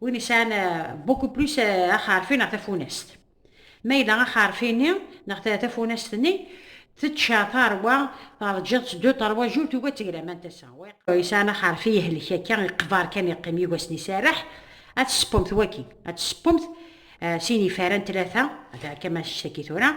Win yesɛan beaucoup eh, plus eh, axerfi neɣ tafunast. Ma yella axerfi-nni neɣ tafunast-nni tečča tarwa terǧiḍ-tt du terwa jur tugi ad teglam anta sa. Yesɛan axerfi yehlek akka iqbar kan yeqqim yigasen iserreḥ ad tespumt waki ad tespumt eh, sin ifara n tlata ad ɛekka ma ssaki tura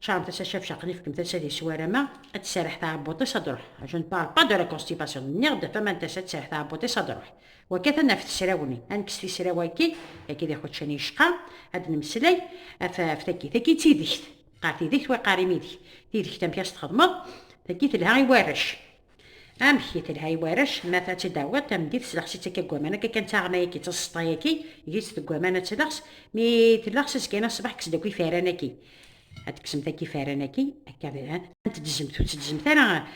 Charles tasa chef Charlie fkem tasa di swarama ad tserreḥ tɛebbuṭ-is ad ruḥ. Je ne parle pas de la constipation. Nniɣ-d faman tasa ad tserreḥ tɛebbuṭ-is ad ruḥ. Wakkat ad naf tesrawni, ad nekkes tisrawa-agi, agi d iḥuččan yecqa, ad nemmeslay af af tagi. Tagi d tidekt. Qqar tidekt, wa iqqar imidek. Tidekt amek as txedmeḍ? Tagi telha i warrac. Amek i telha i warrac, ma ta tt-id tawiḍ tameddit s leɣs i tt-akka deg waman akka kan d taɣma yagi d taseḍta yagi gis deg waman ad tt-leɣs mi t-leɣs asgan aṣbeḥ kkes-d akk ifaran aki ad tekksemt akk ifaran aki akka d ha ad tedzmt ur tedzmt ara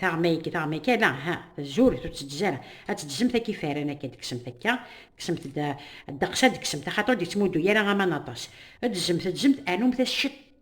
taɣma yagi taɣma yagi ala ha tzuret ur tedz ara ad tedzmt akk ifaran aki ad tekksemt akka kksemt-d ddeqs ad tekksemt axaṭer ur d-yettmuddu ara aman aṭas edzmt edzmt anumt-as ciṭ